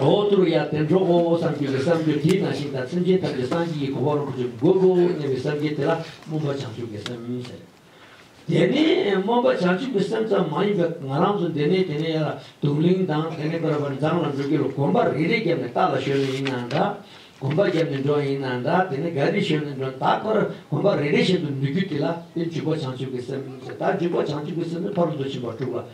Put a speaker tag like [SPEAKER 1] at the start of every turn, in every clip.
[SPEAKER 1] ཨོ་ཏུ་ཡ་བདེ་མཆོག་ཨོ་ཨོ་བསམ་གྱིས་ཀྱི་བསམ་གྱིས་དྲིས་ན་ཤིང་དང་སེམས་ཅན་ཐམས་ཅད་སངས་རྒྱས་ཀྱི་གོ་འཕང་རོ་གཅིག་པུ་དགོད་དགོད་སྙམ་པའི་བསམ་གྱིས་དེ་ལ་སྨོན་པ་བྱང་ཆུབ་ཀྱི་སེམས་ཉོན་ཟེར། དེ་ནས་སྨོན་པ་བྱང་ཆུབ་ཀྱི་སེམས་ཙམ་མ་ཡིན་པས་ང་རང་ཚོ་འདི་ནས་དེ་ནས་ཡར་ལ་དུག་ལིང་དང་དེ་ནས་པར་པར་མཛངས་ལ་འགྲོ་གི་ལ་གོམ་པ་རེ་རེ་བརྒྱབ་ནས་རྟ་ལ་ཞོན་ནས་ཡིན་ནའང་འདྲ། གོམ་པ་བརྒྱབ་ནས་འགྲོ་ཡིན་ནའང་འདྲ་དེ་ནས་ག་རེ་ཞོན་ནས་འགྲོ་ད་ཁར་གོམ་པ་རེ་རེ་བཞིན་དུ་འདུག་རྒྱུ་དེ་ལ་དེ་འཇུག་པ་བྱང་ཆུབ་ཀྱི་སེམས་ཟེར་ད་འཇུག་པ་བྱང་ཆུབ་ཀྱི་སེམས་ནི་ཕ་རོལ་ཏུ་ཕྱིན་པ་དྲུག་ལ་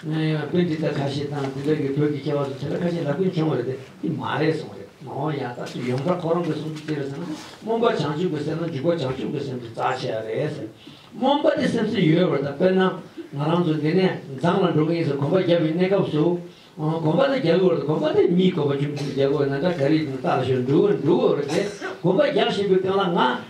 [SPEAKER 1] སྔོན་ཡང་དཔེ་འདི་ལྟར་ཁ་ཤས་དང་དེ་འདྲ་གི་བོད་ཀྱི་སྐྱེ་བ་ཚོ་དེ་འདྲ་ཁ་ཤས་ལབ་ཀིན་བྱུང་བ་རེད་དེ་འདི་མ་རེད་གསུངས་རེད་མ་འོང་ཡག་ད་ཐུག་ཡོངས་གྲགས་ཁོ་རང་གི་གསུང་རྒྱུ་དེ་རེད་ཟེར་ན་རྨོངས་པ་བྱང་ཆུབ་ཀྱི་སེམས་ན་འཇུག་པ་བྱང་ཆུབ་ཀྱི་སེམས་ཀྱི་རྩ་ཆེ་བ་རེད་ཟེར། རྨོངས་པ་དེ་སེམས་སུ་ཡོད་བར་ད་དཔེར་ན་ང་རང་ཚོ་འདི་ནས་མཛངས་ལ་འགྲོ་གི་ཡིན་ཟེར་གོམ་པ་རྒྱབ་པའི་གནས་སྐབས་སུ། གོམ་པ་དེ་རྒྱག་གི་བར་དུ་གོམ་པ་དེ་མིའི་གོམ་པ་ཁྱུམ་ཁྱུམ་རྒྱག་གི་འོ་ན་འདྲ་ག་རེ་ཡིན་ད་ལ་ཞོར་འགྲུལ་བ་འགྲུལ་བ་རེད་དེ་གོམ་པ་རྒྱག་བཞིན་པའི་སྟེང་ལ་ང།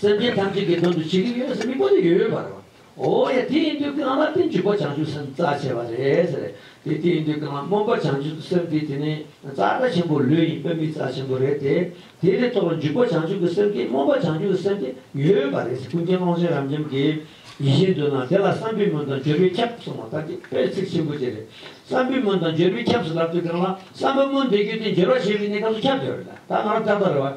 [SPEAKER 1] སེམས་ཅན་ཐམས་ཅད་ཀྱི་དོན་དུ་བྱེད་ཀྱི་ཡོད་ཟེར་མི་དགོས་ནི་ཡོད་ཡོད་པར། འོ་ཡ་དེ་ཡིན་དུས་ཀྱི་ང་མ་བསྟན་བྱུང་པ་བྱང་ཆུབ་སེམས་རྩ་ཆེ་བ་རེད་ཟེར། དེ་དེ་ཡིན་དུས་ཀྱི་ང་སྨོན་པ་བྱང་ཆུབ་སེམས་དེ་དེ་ནི་རྩ་རྩ་ཆེན་པོ་ལུས་ཡིན་དཔེ་མི་རྩ་ཆེན་པོ་རེད་དེ། དེ་དེ་ཐོག་ལ་འཇུག་པ་བྱང་ཆུབ་ཀྱི་སེམས་ཀྱིས་སྨོན་པ་བྱང་ཆུབ་ཀྱི་སེམས་དེ་ཡོད་ཡོད་པ་རེད་ཟེར་ཀུན་མཁྱེན་ཀློང་ཆེན་རབ་འབྱམས་ཀྱི་ཡིད་བཞིན་དུ་ན་དེ་ལ་བསམ་པའི་མོད་དང་བརྗོད་པའི་ཁྱབ་གསུངས་བ་ལྟར་གྱི་དཔེར་ཚིག་ཆེན་པོ་དེ་རེད། བསམ་པའི་མོད་དང་བརྗོད་པའི་ཁྱབ་ཟེར་ལབ་དུས་ཀྱི་ང་ལ་བསམ་པའི་མོད་འདི་རྒྱུད་དེ་འགྱུར་བ་བྱེད་པའི་གནས་སྐབས་སུ་ཁྱབ་བདེ་བ་རེད་ད། ང་རང་ལྟར་ལྟར་རེད་བ།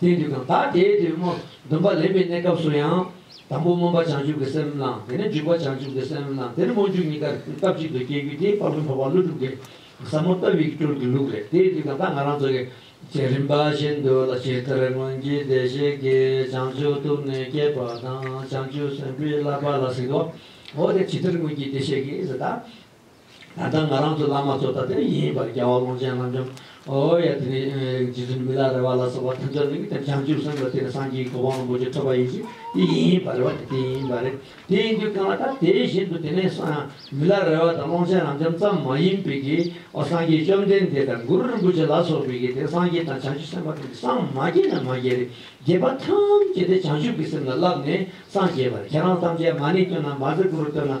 [SPEAKER 1] དེའི་དུས་གང་དག་དེའི་དུས་སྨོན་འདུན་པ་ལེན་པའི་གནས་སྐབས་སུ་ཡང། དང་པོ་སྨོན་པ་བྱང་ཆུབ་ཀྱི་སེམས་བླངས་དེ་ནས་འཇུག་པ་བྱང་ཆུབ་ཀྱི་སེམས་བླངས་དེ་ནས་སྨོན་འཇུག་གཉིས་ཀ་སྐབས་གཅིག་ཏུ་སྐྱེ་རྒྱུ་དེ་དཔག་ཏུ་མཐོ་བ་ཀླུ་སྒྲུབ་ཀྱི་ཟབ་མོ་ལྟ་བུའི་སྤྲུལ་གྱི་ལུགས་རེད་དེའི་དུས་གང་དག་ང་རང་ཚོ་གི་བསྐྱེད་རིམ་པ་བཞིན་དུ་ལ་ཇི་ལྟར་སྔོན་གྱི་བདེ་གཤེགས་ཀྱིས་བྱང་ཆུབ་ཐུགས་ནས་བསྐྱེད་པ་དང་བྱང་ཆུབ་སེམས་དཔའི་བསླབ་པ་ལ་གཟིགས། འོ་དེ་ཇི་ལྟར་སྔོན་གྱི་བདེ་གཤེགས་ཀྱིས་གཟིགས་དང། ད་ལྟ་ང་རང་ཚོ་བླ་མ་ཚོ་ད་ལྟའི་ཡིན་ཡིན་པར་རྒྱལ་བ་ཀློང་ཆེན་བླ་འཇམ་ཨོ་ཡ་དེ་ནས་རྗེ་བཙུན་མི་ལ་རེ་བ་ལ་སོགས་པ་ཐུན་ཚོད་གླིང་དང་བྱང་ཆུབ་སེམས་ལ་དེ་ནས་སངས་རྒྱས་ཀྱི་གོ་འཕང་རིན་པོ་ཆེ་ཐོབ་པ་ཡིན་གྱི་དེ་ཡིན་ཡིན་པར་རེ་བ་དེ་དེ་ཡིན་ཡིན་པར་རེད་དེ་ཡིན་དུས་གང་ལ་ད་དེ་བཞིན་དུ་དེ་ནས་མི་ལ་རེ་བ་དང་ཀློང་ཆེན་བླ་འཇམ་ཙམ་མ་ཡིན་པའི་གི་ཨོ་སངས་རྒྱས་བཅོམ་ལྡན་འདས་དང་གུ་རུ་རིན་པོ་ཆེ་ལ་སོགས་པའི་གི་དེ་སངས་རྒྱས་དང་བྱང་ཆུབ་སེམས་དཔའ་དེ་ནས་སངས་མ་རྒྱས་ན་མ་རྒྱས་རེ་རྒྱས་པ་ཐམས་ཅད་དེ་བྱང་ཆུབ་ཀྱི་སེམས་ལ་བསླབས་ནས་སངས་རྒྱས་པར་ཁྱེད་རང་ཐམས་ཅད་མ་ནི་སྟོན་ན་མ་ཟེར་གུ་རུ་སྟོན་ན་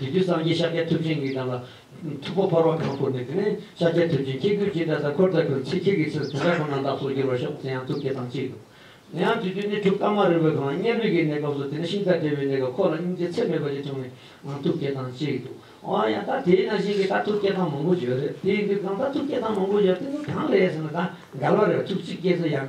[SPEAKER 1] དེ་དུས་སངས་རྒྱས་ཤཱཀྱ་ཐུབ་ཆེན་གྱིས་རང་ལ་ཐུགས་ཁོ་ཕོར་བ་གང་བསྐུར་ནས་དེ་ནས་ཤཱཀྱ་ཐུབ་ཆེན་ཁྱེད་ཁྱོད་ཅི་ལྟར་ད་ཁོལ་ད་ཁོལ་ཚིག་ཁྱེད་ཀྱི་ཚིག་དེ་འདྲ་ཁོ་ན་བདག་སོགས་འགྱུར་བར་ཤོག་དེ་ཡང་ཐུགས་བསྐྱེད་དང་གཅིག་ཏུ། དེ་ཡང་དུས་དུས་ནས་དྲུག་རྟགས་མ་རིག་པའི་གང་བརྙན་རིག་གི་གནས་སྐབས་སུ་དེ་ནས་ཤིང་རྟ་དྲེལ་བའི་གནས་སྐབས་ཁོ་ལ་སྙིང་རྗེ་ཚད་མེད་པ་ཞིག་བྱུང་བས་ཡང་ཐུགས་བསྐྱེད་དང་གཅིག་ཏུ། འོ་ཡང་ད་དེས་ན་གཞན་གྱི་ད་ཐུགས་བསྐྱེད་དང་མང་པོ་བརྗོད་རེད་དེའི་དུས་གང་ད་ཐུགས་བསྐྱེད་དང་མང་པོ་བརྗོད་དེ་ནི་གང་རེད་ཟེར་ན་ད་འགལ་བ་རེད་བ་ཐུགས་གཅིག་སྐྱེས་ཚེ་ཡང་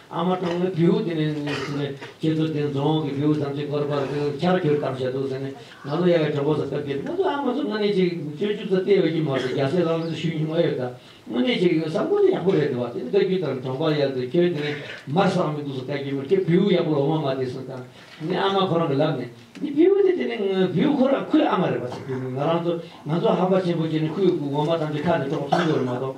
[SPEAKER 1] ཨ་མ་གྲོང་མི་བེའུ་དེ་ནས་ཟེར་ནས་ཁྱེད་ཚོ་དེ་རྫོང་གི་བེའུ་ཟམ་ཆེན་སྐོར་པར་ཕྱག་བསྐྱུར་གཏམ་བཤད་འདུག་ཟེར་ནས་ང་ལོ་ཡག་གི་གྲོགས་པོ་ཚོ་སྐབས་འགེབས་ང་ཚོ་ཨ་མ་ཚོ་དངོས་གནས་ཅིག་སྤྱོད་འཇུག་ཚོ་བལྟས་འོས་ཀྱི་མ་རེད་རྒྱ་སེ་ལགས་ལ་ཚོ་ཞུས་མྱོང་མ་ཡོད་ད་དངོས་གནས་ཅིག་བསམ་བཀོད་དེ་ཡག་པོ་རེད་འདུག་བ་དེ་ནས་བཀའ་རྒྱུད་དང་གྲོང་པ་ཡག་འདུག་ཁྱོད་དེ་ནས་མར་བསགས་མི་འདུག་སོ་བཀའ་རྒྱུད་མ་ཁྱོད་བེའུ་ཡག་པོ་ལ་འོ་མ་མ་བསྡད་སོང་དང་ནས་ཨ་མ་ཁོ་རང་གི་ལབ་ནས་འདི་བེའུ་དེ་དེ་ནས་བེའུ་ཁོ་རང་ཁོའི་ཨ་མ་རེད་བ་ཟེར་གྱི་འདུག་ང་རང་ཚོ་ང་ཚོ་ཧམ་པ་ཆེན་པོ་བྱས་ནས་ཁོའི་སྐུ་ངོ་མ་ཐམས་ཅད་ཁ་ནས་དཀྲོགས་སོང་གི་རེད་མ་གཏོགས།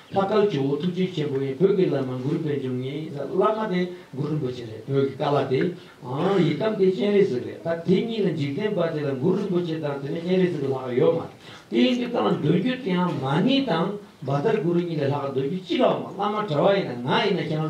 [SPEAKER 1] ལྷ་དཀར་ཇོ་བོ་ཐུགས་རྗེ་ཆེན་པོ་ཡིས་བོད་ཀྱི་བླ་མ་མགུར་པའི་འབྱུང་གནས་ཡིན་ས་བླ་མ་དེ་མགུར་རིན་པོ་ཆེ་རེད་བོད་ཀྱི་བཀའ་ལ་དེ་ཨང་ཡི་དམ་དེ་སྤྱན་རས་གཟིགས་རེད་ད་དེ་གཉིས་ལ་འཇིག་རྟེན་པ་དེ་ལ་མགུར་རིན་པོ་ཆེ་དང་དེ་ནས་སྤྱན་རས་གཟིགས་ལྷག་ཡོད་མ་རེད་དེ་ཡིན་གྱི་ད་འདོན་རྒྱུ་དེའང་མ་ནི་དང་འབའ་དར་གུ་རུ་གཉིས་ལས་ལྷག་འདོན་རྒྱུ་ཅི་ལའོ་མ་བླ་མ་གྲྭ་བ་ཡིན་ན་ང་ཡིན་ན་ཁྱང